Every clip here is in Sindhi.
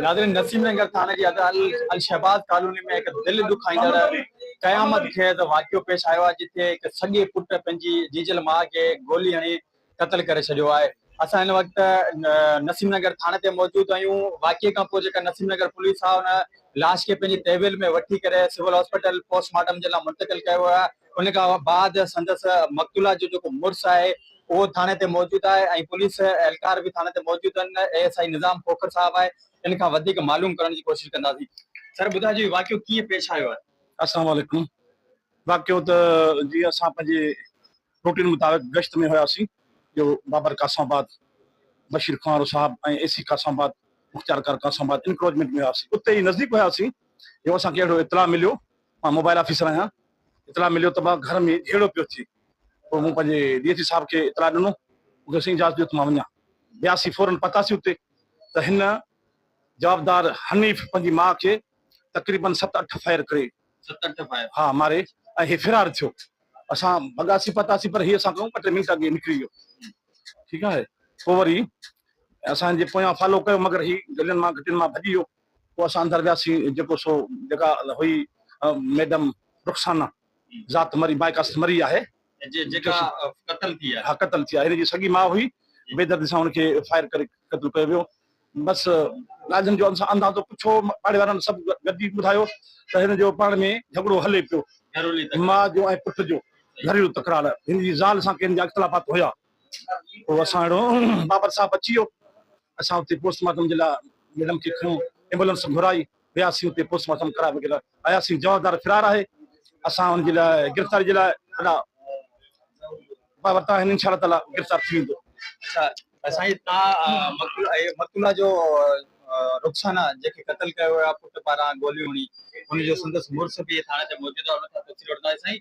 ناظرين نسيم نگر ٿاڻي جي ادا الشهباز ڪالوني ۾ هڪ دل دکائيندڙ قيامت خيز واقعو پيش آيو آهي جتي هڪ سڳي پٽ پنهنجي جيجل ماء کي گولي هڻي قتل ڪري ڇڏيو آهي اسان هن وقت نسيم نگر ٿاڻي تي موجود آهيون واقعي کان پوء جيڪا نسيم نگر پوليس آهي ان لاش کي پنهنجي تحويل ۾ وٺي ڪري سول هاسپيٽل پوسٽ مارٽم جي لاء منتقل ڪيو ويو آهي ان کان بعد سندس مقتولا جو جيڪو مڙس آهي اهو ٿاڻي تي موجود آهي ۽ پوليس اهلڪار به ٿاڻي تي موجود آهن اي ايس آئي نظام کوکر صاحب آهي ان کان وڌيڪ معلوم ڪرڻ جي ڪوشش ڪنداسين سر ٻڌائجو هي واقعو ڪيئن پيش آيو آهي. السلام عليڪم واقعو ته جيئن اسان پنهنجي روٽين مطابق گشت ۾ هياسين جو بابر قاسم آباد بشير کوهانو صاحب ۽ اي سي قاسم آباد مختيار ڪار قاسم آباد انڪروچمينٽ ۾ هياسين اتي ئي نزديڪ هياسين جو اسان کي اهڙو اطلاع مليو مان موبائل آفيسر آهيان، اطلاع مليو ته مان گهر ۾ جهيڙو پيو ٿئي، پوء مون پنهنجي ڊي ايس پي صاحب کي اطلاع ڏنو، مون کي سائين اجازت ڏيو ته مان وڃان، وياسين، فورن پهتاسين اتي ته هن جوابدار حنيف پنهنجي ماء کي تقريبن ست اٺ فائر ڪري، ست اٺ فائر، ها ماري ۽ هي فرار ٿيو، اسان ڀڳاسين پهتاسين پر هي اسان کان ٻه ٽي منٽ اڳي نڪري ويو، ٺيڪ آهي، پوء وري اسان جي پويان فالو ڪيو مگر هي گلين مان گهٽين مان ڀڄي ويو، پوء اسان اندر وياسين، جيڪو سو جيڪا هئي ميڊم رخسانه ذات مري مائي ڪاست مري آهي. جيڪا قتل ٿي آهي. ها قتل ٿي آهي. هن جي سڳي ماء هئي. بي دردي سان هن کي فائر ڪري قتل ڪيو ويو. بس ڳالهين جو اندازو پڇو، پاڙي وارن سڀ گڏجي ٻڌايو ته هن جو پاڻ ۾ جهڳڙو هلي پيو. ماء جو ۽ پٽ جو گهريلو تڪرار. هن جي زال سان ڪنهن جا اختلافات هيا. پوء اسان اهڙو بابر صاحب اچي ويو اسان اتي پوسٽ مارٽم جي لاء ميڊم کي کنيو ايمبولنس گهرائي وياسين اتي پوسٽ مارٽم ڪرائي وغيره آياسين جوابدار فرار آهي اسان ان جي لاء گرفتاري جي لاء ادا مان ورتا آهن انشاء الله تعالي گرفتار ٿي ويندو اچھا سائين تان مقتولا جو رخسانا جيڪي قتل ڪيو ويو آهي پٽ پاران گوليون هڻي ان جو سندس مڙس به ٿاڻي تي موجود آهي ان کان تفصيل وٺنداسين سائين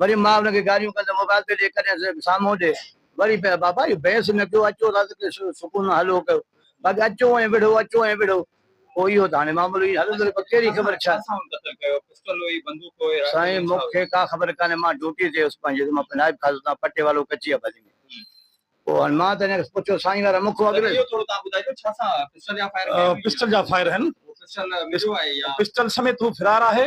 وري مان ان کي گاريون ڪندم موبائل تي ڏي ڪڏهن ته سامهون ڏي وري پئي بابا اهو بحث نه ڪيو اچو رس تي سڪون سان هلو ڪيو باقي اچو ۽ وڙهو اچو ۽ وڙهو پوء اهو ته هاڻي معاملو ائين هلندو رهي پر ڪهڙي خبر ڇا سائين مون کي ڪا خبر ڪانهي مان ڊيوٽي تي هيس پنهنجي مان پنهنجي نائب خاص اتان پٽي والو ڪچي آبادي ۾ پوء هاڻي مان ته ان کي پڇيو سائين وارا مون کان اڳ ۾ پسٽل جا فائر آهن پسٽل سميت هو فرار آهي.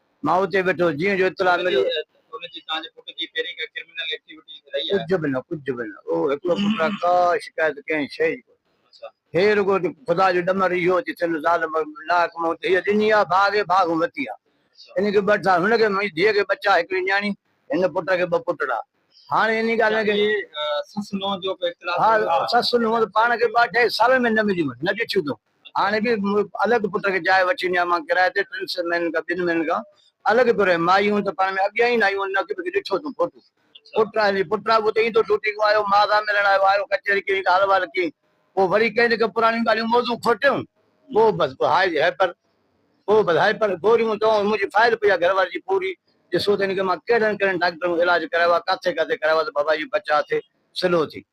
مان اتي ويٺو جيئن جو اطلاع مليو ته ان جي تنهنجي پٽ جي پهرين ڪا ڪرمنل ايڪٽيوٽي رهي آهي؟ ڪجهه به نه ڪجهه به نه اهو هڪڙو پٽ آهي ڪا شڪايت ڪنهن شيء جي ڪونهي هي رڳو ته خدا جو ڏمر اهو آهي جس هن ظالم ناحق مون تي هيء ڏني آهي ڀاڳي ڀاڳون وتي آهي ان کي ٻه ٽار هن کي منهنجي ڌيء کي ٻچا هڪڙي نياڻي هن پٽ کي ٻه پٽڙا هاڻي انهي ڳالهه کي سس نونهن جو به اختلاف ها سس نونهن ته پاڻ کي ٻه اڍائي سالن ۾ نه مليون نه ڏٺيون اٿئون هاڻي به الڳ پٽ کي جاء وٺي ڏيان مان ڪرائي تي ٽن سئن مهينن کان ٻن مهينن کان الڳ ٿو رهي مائي هون ته پاڻ ۾ اڳيان ئي نه آيون نه ڪي ڏٺو تون ڦوٽو پٽ آهي ني پٽ آهي اهو ته ايندو ڊوٽي کان آيو ماء سان ملڻ آيو آيو ڪچهري ڪئين حال وال ڪئين پوء وري ڪئين نه ڪئين پراڻيون ڳالهيون موضوع کوٽيون پوء بس پوء هاء جي هائپر پوء بس هائپر گوريون دوائون منهنجي فائل پئي آهي گهر واري جي پوري ڏسو ته هن کي مان ڪهڙن ڪهڙن ڊاڪٽرن کان علاج ڪرايو آهي ڪاٿي ڪاٿي ڪرايو آهي ته بابا اهو بچاء ٿئي سلو ٿي.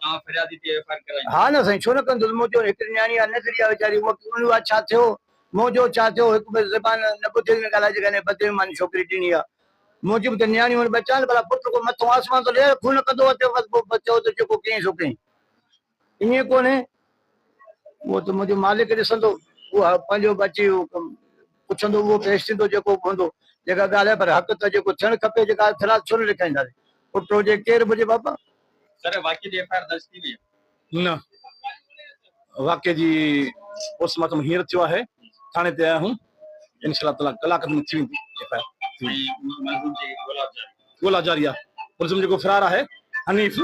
توهان فريادي تي ايف آء آر ڪرايون. ها نه سائين ڇو نه ڪندس مون چيو هڪڙي نياڻي آ ننڍڙي آ ويچاري هوء ڪي ان ڇا ٿيو مون چيو ڇا ٿيو هڪ ٻه زبان نه ٻڌي نه ڳالهائي جيڪا انهيء بدي ۾ ماني ڇوڪري ڏني آ مون چيو ته نياڻي هن ٻه چانڊ ڀلا پٽ ڪو مٿو آسمان ٿو لهي خون ڪندو آ تنهن وقت پوء چئو ته جيڪو ڪيئين سو ڪيئين ائين ڪونهي اهو ته منهنجو مالڪ ڏسندو اهو پنهنجو به اچي پڇندو اهو پيش ٿيندو جيڪو به هوندو جيڪا ڳالهه آ پر حق ته جيڪو ٿيڻ کپي جيڪا فرياد ڇو نه لکائينداسين پٽ هجي ڪير به هجي بابا نه واقعي جي پوسٽ مارٽم هينئر ٿيو آهي ٿاڻي تي آيا آهيون ان شاء الله ڪلاڪ ۾ ٿي ويندي ايف آء آر ڳولا جاري آهي ملزم جيڪو فرار آهي حنيف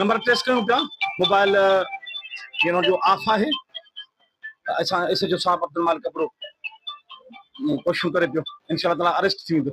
نمبر ٽريس ڪيون پيا موبائل هن جو آف آهي اسان اس جو صاحب عبدالمالڪ ابڙو ڪوششون ڪري پيو ان شاء الله تعالي اريسٽ ٿي ويندو